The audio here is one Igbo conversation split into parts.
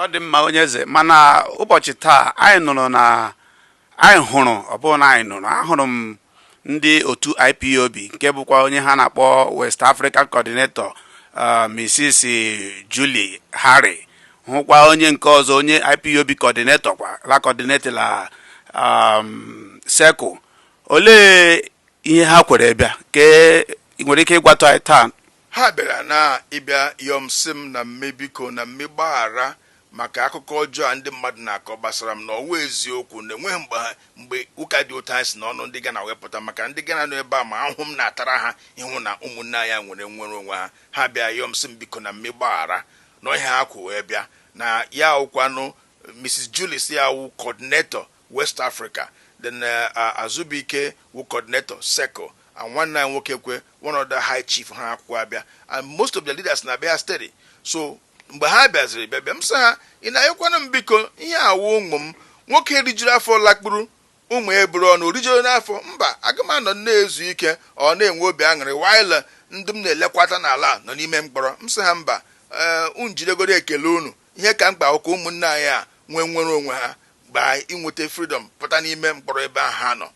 ọ dị mma onye eze mana ụbọchị taa anyị nụrụ na anyị hụrụ ọ bụrụ na anyị nụrụ ahụrụ m ndị otu IPOB nke bụkwa onye ha na-akpọ West African Coordinator uh, Mrs. Julie Harry hụkwa onye nke ọzọ onye IPOB coordinator kwa la coordinator la um, Circle olee ihe ha kwere bịa kee ị nwere ike ịgwatụ anyị taa ha bịara na ịbịa yọọ m sị m na m mee biko na m mee gbaghara maka akụkọ ọjọọ a ndị mmadụ na-akọ gbasara m na ọ wụ eziokwu na enweghị mgbe ha- mgbe ụka dị otu a si n'ọnụ ndị Gana wee pụta maka ndị Gana nọ ebe a ma ahụhụ m na-atara ha ịhụ na ụmụnne anyị a nwere nnwere onwe ha ha bịa yọọ m sị m biko na m mee gbaghara na ọ ihe ha kwọ wee bịa na ya awụkwanụ Mrs. Julie sị ya wụ coordinator West Africa, then Azubuike wụ coordinator, Circle, and nwanne anyị nwoke kwe one of the high chief ha akwụkọ bịa and most of the leaders na-abịa steady so mgbe ha bịaziri bịa bịa m sị ha ị na-ayọkwanụ m biko ihe a wụ ụmụ m nwoke rijuru afọ lakpuru ụmụ eburu ọnụ o rijuru n'afọ mba aga m anọ na-ezu ike or na-enwe obi aṅụrị while ndị m na-elekwata n'ala nọ n'ime mkpọrọ m sị ha mba ee unu jidegodi ekele unu Ihe ka mkpa bụ ka ụmụnne anyị a nwee nnwere onwe ha mgbe anyị inweta freedom pụta n'ime mkpọrọ ebe ahụ ha nọ.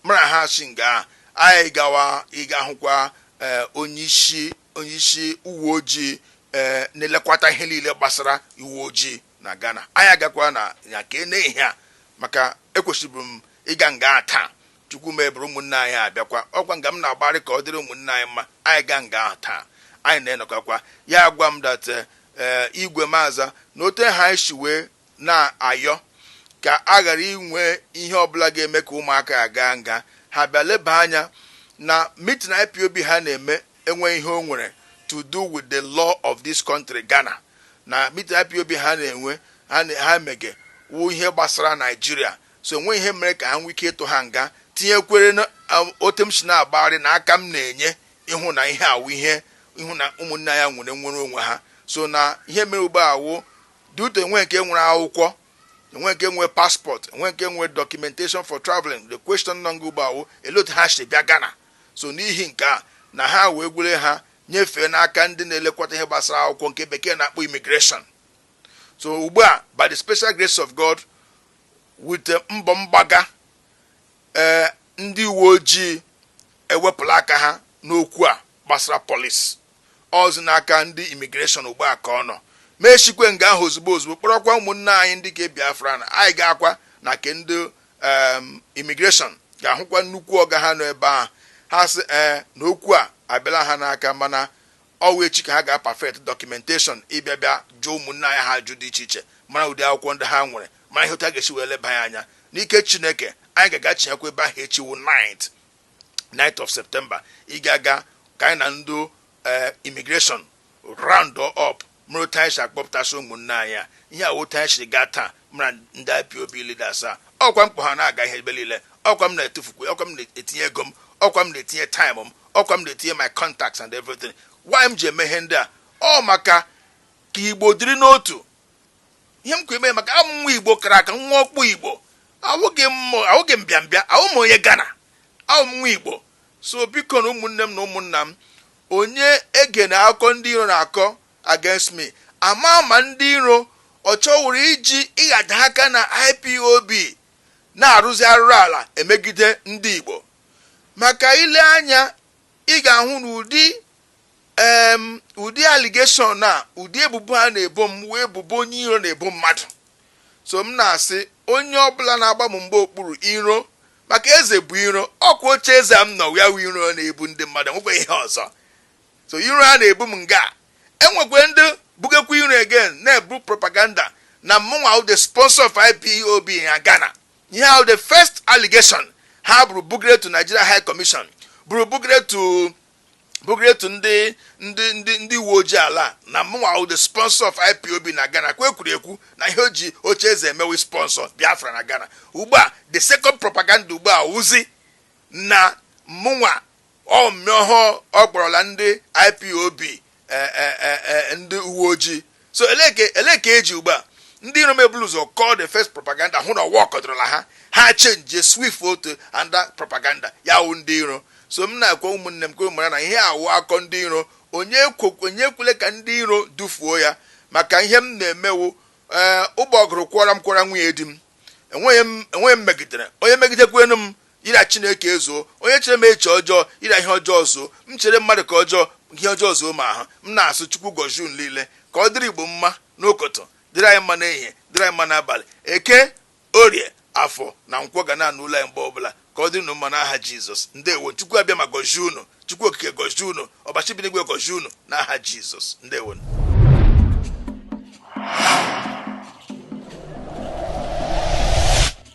Mụ na ha si nga a gawa ịga hụkwa eh, onyeisi onyeisi uwe ojii eh, na-elekwata ihe niile gbasara uwe ojii na Ghana. Anyị agakwa na ya ka e nee ihe a maka ekwesịbụ m ịga nga ahụ taa Chukwu mebere ụmụnne anyị a abịakwa. Ọ kwa nga m na-agbagharị ka ọ dịrị ụmụnne anyị mma. Anyị gaa nga ahụ taa, anyị na ya anọkọkwa. Ya agwa m that eh, eh, Igwe Maza, na otu ahụ anyị si wee na-ayọ ka a ghara inwe ihe ọbụla ga-eme ka ụmụaka ya gaa nga, ha bịa leba anya na meeting IPOB ha na-eme enweghị ihe o nwere to do with the law of this country, Ghana. Na meeting IPOB ha na-enwe ha na- ha emege wụ ihe gbasara Naijiria so enweghị ihe mere ka ha nwee ike ịtụ ha nga, tinyekwere na um, otu m si na-agbagharị na aka m na-enye ịhụ na ihe a wụ ihe ịhụ na ụmụnne anyị a nwere nnwere onwe ha so na ihe mere ugbu a wụ that enwe nke nwere akwụkwọ enwe nke nwee paspọtụ enwe nke nwee documentation for traveling the question nọ nga ugbu a wụ olee otu ha si bịa Ghana so n'ihi nke a na ha wee gwere ha nyefee n'aka ndị na-elekọta ihe gbasara akwụkwọ nke Bekee na-akpọ immigration so ugbu a by the special grace of God With mbọ m gbaga, ee, ndị uwe ojii ewepụla aka ha n'okwu a gbasara polis. Ọzi n'aka ndị immigration ugbu a ka ọ nọ. M eshikwe nga ahụ ozugbo ozugbo kpọrọkwa ụmụnne anyị ndị ke Biafra na anyị gaakwa na ke ndị um, immigration gaa hụkwa nnukwu ọga ha nọ ebe ahụ. Ha sị ee na okwu a abịala ha n'aka mana Ọ wụ echi ka ha ga-perfect documentation ịbịa bịa jụọ ụmụnne anyị ha ajụjụ dị iche iche, mara ụdị akwụkwọ ndị ha nwere, mara ihe otu a ga-esi wee leba ya anya. N'ike Chineke, anyị ga-agachighakwa ebe ahụ echi wụ 9th 9th of September ịga aga ka anyị na ndị ee immigration round up mara otu anyị si akpọpụtasị ụmụnne anyị a ihe a wụ otu anyị siri gaa taa ma ndị IPOB leaders a ọkwa m kpọ ha na-aga ihe ebe niile ọkwa m na-etufukwu ọkwa m na-etinye ego m ọkwa m na-etinye time m ọkwa m na-etinye my contacts and everything why m ji eme ihe ndị a ọ maka ka igbo dịrị n'otu ihe m kwa eme maka awụ m nwa igbo kara aka nwa ọkpụ igbo awụghị m awụghị m bịambịa awụ m onye Ghana awụ m nwa igbo so bikonụ ụmụnne m na ụmụnna m onye egena akụkọ ndị iro na-akọ against me ama m ma ndị iro ọ chọwụrụ iji ịghada aka na IPOB na-arụzi arụrụ ala emegide ndị Igbo maka i lee anya ị ga-ahụ na ụdị em ụdị allegation a ụdị ebubo ha na-ebo m wụ ebubo onye iro na-ebo mmadụ so m na-asị onye ọbụla na-agba m mgba okpuru iro maka eze bu iro ọkwa oche eze a m nọ ya wụ iro na-ebu ndị mmadụ e nwekwe ihe ọzọ So iro ha na-ebu m nga. E nwekwe ndị bugekwa iro again na-ebu propaganda na mụnwa wụ the sponsor of IPOB na Ghana. Ihe ahụ the first allegation ha buru bugere to Nigeria High Commission buru bugere to bugere to ndị ndị ndị ndị uwe ojii ala a na mụnwa wụ the sponsor of IPOB na Ghana nke e kwuru ekwu na ihe o ji oche eze eme wụ sponsor Biafra na Ghana. Ugbu a the second propaganda ugbu a wụzi na mụnwa Ọ mmịọ ọhụụ ọ kpọrọla ndị IPOB ndị uwe ojii. So elee ka eji ugbu a ndị iro m ebulu ụzọ kọọ the first propaganda hụ na ọ workọdụrụla ha ha change switch to another propaganda ya wụ ndị iro so m na-ekwu ụmụnne m ka mara na ihe a wụ akọ ndị iro onye ekwele ka ndị iro dufuo ya maka ihe m na-eme wụ ee eh, ụgbọgụrụ kwọra m kwọra nwunye di m enweghị m megidere onye megidekwenu m Ịra Chineke ezuo. Onye chere m eche ọjọọ, ịra ihe ọjọọ zuo. M chere mmadụ ka ọjọọ, ihe ọjọọ zuo m ahụ. M na-asụ Chukwu gọzie unu niile. Ka ọ dịrị Igbo mma n'ụtụtụ, dịrị anyị mma n'ehihie, dịrị anyị mma n'abalị. Eke, Orie, Afọ na Nkwọ ga na-anụ olu anyị mgbe ọbụla. Ka ọ dịrị unu mma n'aha Jizọs. Ndewo nụ. Chukwu Abịama gọzie unu. Chukwu okike gọzie unu. Ọbasị bi n'igwe gọzie unu n'aha Jizọs. Ndewo.